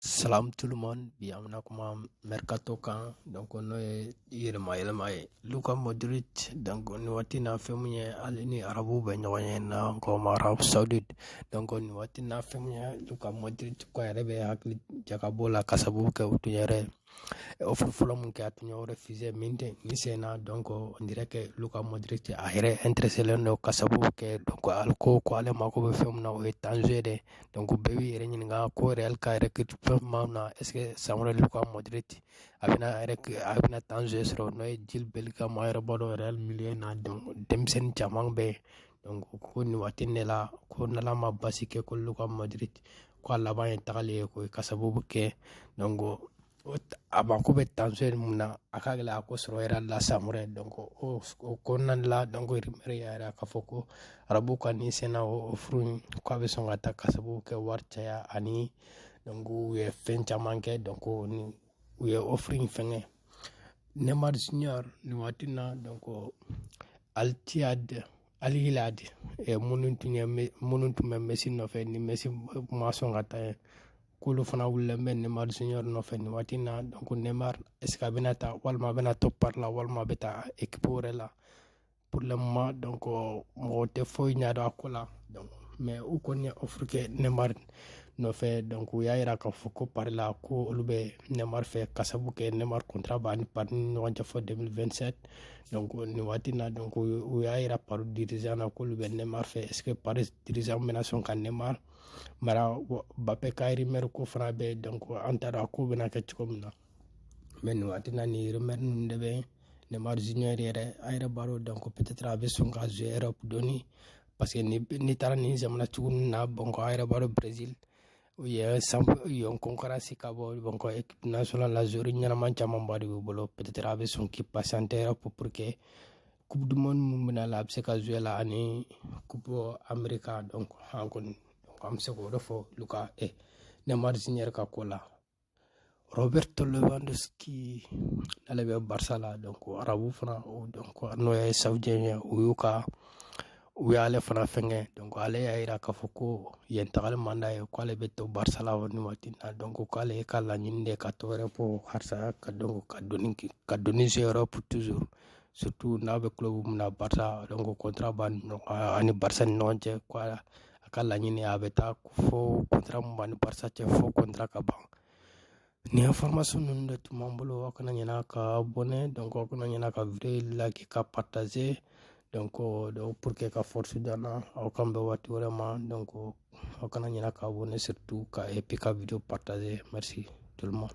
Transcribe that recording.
Salam tout le monde bi an bɛna kuma mercato kan donc n'o ye yɛlɛma yɛlɛma ye luka modric donc nin waati na fɛn min ye ale ni arabuw bɛ ɲɔgɔnye na n ko o ma arabie saoudite donc nin waati na fɛn min ye luka modric ko a yɛrɛ bɛ hakili jagabɔ la ka sababu kɛ u tun yɛrɛ offre fɔlɔ min kɛ a tun y'o refuser mais nin sen na donc on dirait que luka modric a yɛrɛ intéressé len don ka sababu kɛ donc ale ko ko ale mako bɛ fɛn min na o ye temps de jeu de donc bɛɛ b'i yɛrɛ ɲininka ko real ka yɛrɛ kɛ fɛn tuma min na est ce que san wɛrɛ luka modric a bɛna a yɛrɛ a bɛna temps de jeu sɔrɔ n'o ye jude bellingham a yɛrɛ b'a dɔn real milieu na donc denmisɛnnin caman bɛ yen donc ko nin waati ne la ko n'ala ma basi kɛ ko luka modric ko a laban ye tagali ye koyi ka sababu kɛ donc a mako bɛ temps de jeu min na a ka gɛlɛn a k'o sɔrɔ real la san wɛrɛ donc o kɔnɔna la donc rumeur y'a yira k'a fɔ ko arabu ka nin sen na offre in ko a bɛ sɔn ka taa ka sababu kɛ wari caya ani donc u ye fɛn caman kɛ donc ni u ye offre in fɛngɛ neymar junior nin waati na donc al-ittihad Al-Hilal de ɛ minnu tun ye minnu tun bɛ messi nɔfɛ ni messi ma sɔn ka taa k'olu fana wulilen bɛ neymar junior nɔfɛ nin waati in na ko neymar est ce que a bɛna taa walima a bɛna to paris la walima a bɛ taa équipe wɛrɛ la pour le moment donc mɔgɔ tɛ foyi ɲɛdɔn a ko la mais u kɔni ye offre kɛ neymar nɔfɛ donc u y'a jira k'a fɔ ko paris la ko olu bɛ neymar fɛ ka sabu kɛ neymar contrat b'a ni paris ni ɲɔgɔn cɛ fo 2027 nin waati na donc u y'a yira paris dirigeant na k'olu bɛ neymar fɛ est ce que paris dirigeant bɛna sɔn ka neymar mara mbappé ka rumeur ko fana bɛ donc an t'a dɔn a ko bɛna kɛ cogo min na mais nin waati na nin rumeur ninnu de bɛ neymar junior yɛrɛ a yɛrɛ b'a dɔn donc peut-être a bɛ sɔn ka jouer europe dɔɔni parce que n'i taara nin jamana cogo ninnu na bon ko a yɛrɛ b'a dɔn brésil u ye san yon concurrence ka bon donc équipe nationale la joueur ɲɛnaman camanba de b'u bolo peut-être a bɛ sɔn k'i patienter pour pour que coupe du monde min bɛna la a bɛ se ka jouer la ani coupe america donc an kɔni an bɛ se k'o de fɔ luka eh, neymar junior ka ko la Roberto Lewandowski n'ale bɛ Barca la donc arabu fana o donc n'o ye saoudien ye o y'u ka u y'ale fana fɛngɛ donc ale y'a yira k'a fɔ ko yen tagali man d'a ye k'ale bɛ to Barca la nin waati in na donc k'ale ka laɲini de ka to Europe halisa ka donc ka donni ka donni se Europe toujours surtout n'a bɛ club min na Barca donc contrat b'a ni ɲɔgɔn ani Barca ni ɲɔgɔn cɛ ko a ka laɲini a bɛ taa fo kɔntara min b'a ni barça cɛ fo kɔntara ka ban nin information ninnu de tun b'an bolo aw kana ɲinɛ ka abonner donc aw kana ɲinɛ ka video like ka partager donc donc pour que ka force d'an na aw k'an bɛn waati wɛrɛ ma donc aw kana ɲinɛ ka abonner surtout ka et puis ka video partager merci tout le monde